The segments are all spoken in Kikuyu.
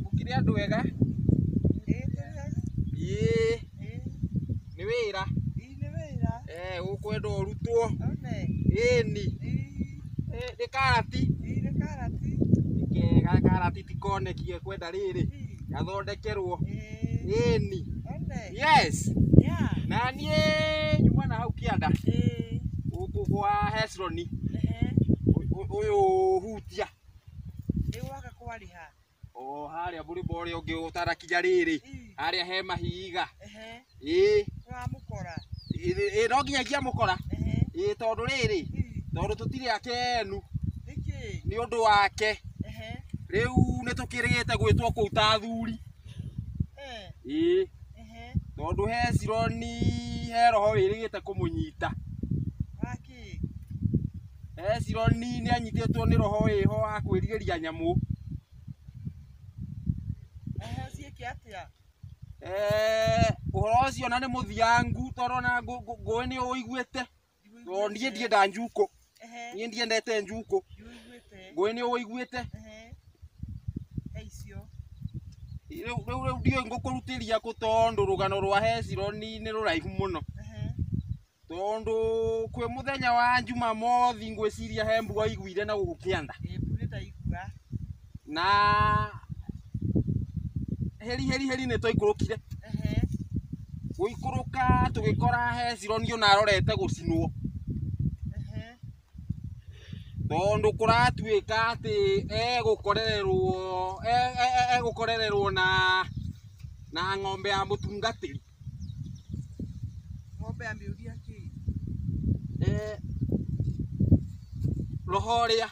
Gũkĩrĩ andũ ega? Ĩĩ. Nĩ wĩra? nĩ wĩra. Eh, ũkwenda ũrutwo. One. Ĩni. Eh, nĩ karati. Ii nĩ karati. Nĩ kega karati tikonekie kwenda rĩrĩ. Gathondekerwo. Ĩĩ. Ĩni. One. Yes. Yeah. Na niĩ nyuma na hau kĩanda. Ĩĩ. Gũkũ kwa Hesroni. Ehe. Ũyũ hutia. Nĩ gwaka kwarĩ ha? o harĩa mũrĩmo ũrĩa ũngĩ ũtanakinya rĩrĩ harĩa he mahiga Ehe, ĩĩ nĩwamũkora. ĩĩ, ĩĩ, no nginya ingĩamũkora Ehe, ĩĩ tondũ rĩrĩ ii, tondũ tũtirĩ akenu nĩkĩ? nĩ ũndũ wake Ehe, rĩu nĩ tũkĩrĩgĩte gwĩtwo kũu ta athuri eh, ĩĩ ehe, tondũ hecironi he roho wĩrĩgĩte kũmũnyita waki Hezironi nĩ anyitĩtwo nĩ roho wĩho wa kwĩrirĩria nyamũ. Ehe, ciĩke atĩa? Eh, Ũhoro ũcio na nĩ mũthiangu tondũ ona ngũ- ngũ- ngũĩ nĩ ũiguĩte. Tondũ niĩ ndienda njukũ, Ehe, niĩ ndiendete njukũ. ndiũiguĩte. Ngũĩ nĩ ũiguĩte. Ehe. He icio. Rĩu rĩu- rĩu ndiũĩ ngũkũrutĩria kũ tondũ rũgano rwa Hezironi nĩ rũraihu mũno. tondũ kwĩ mũthenya wa Jumamothi ngwĩciria he mbura iguire na gũkũ kĩanda Ĩ, mbura ĩtaigua. na heri heri heri nĩ twaikũrũkire Ehe. gũikũrũka tũgĩkora Hezironi ona arorete gũcinwo Ehe. tondũ kũratuĩka atĩ egũkorererwo e- e- e- egũkorererwo na na ng'ombe ya mũtungatĩri Ng'ombe ameulia kii. Eh, roho ũrĩa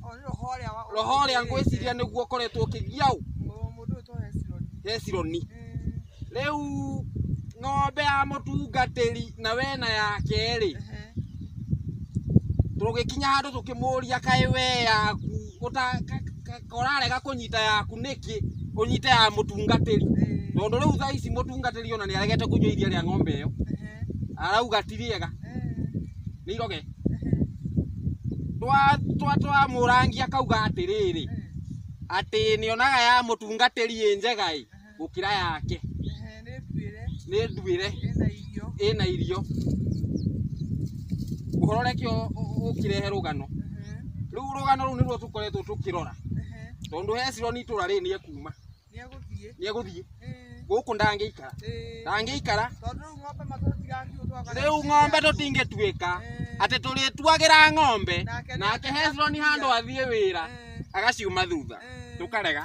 Oh, ni roho ria wa. roho ũrĩa ngwĩciria nĩguo ũkoretwo ũkĩgia ũ Mundu uto Hesironi. hecironi Eh. rĩu ng'ombe ya mũtungatĩri na wena yake rĩ Ehe. tũgĩkinya handũ tũkĩmũria kaĩ we yaku ũta ka- ũrarega kũnyita yaku nĩkĩ ũnyite ya mũtungatĩri tondũ rĩu thaa ici mũtungatĩri ona nĩ aregete kũnyua iria rĩa ng'ombe ĩyo arauga ti rĩega nĩ iroge twa twa twa mũrangi akauga atĩrĩrĩ atĩ nĩonaga ya mũtungatĩri ĩ njega ĩ gũkĩra yake Ehe, nĩ nduĩre nĩ nduĩre ĩna irio ĩna irio ũhoro reke ũ- ũ- ũkĩrehe rũgano Ehe, rĩu rũgano rũu nĩruo tũkoretwo tũkĩrora ehe, tondũ hecironi itũra rĩrĩ nĩ ekuma nĩ egũthiĩ nĩ egũthiĩ Ĩĩ, gũkũ ndangĩikara ĩĩ. ndangĩikara tondũ rĩu ng'ombe matũtigakiuo twaga rĩu ng'ombe tũtingĩtuĩka Ĩĩ. atĩ tũrĩtuagĩra ng'ombe Nake nĩ nake athiĩ hecironi handũ athiĩ wĩra Ĩĩ, agaciuma thutha ĩĩ. tũkarega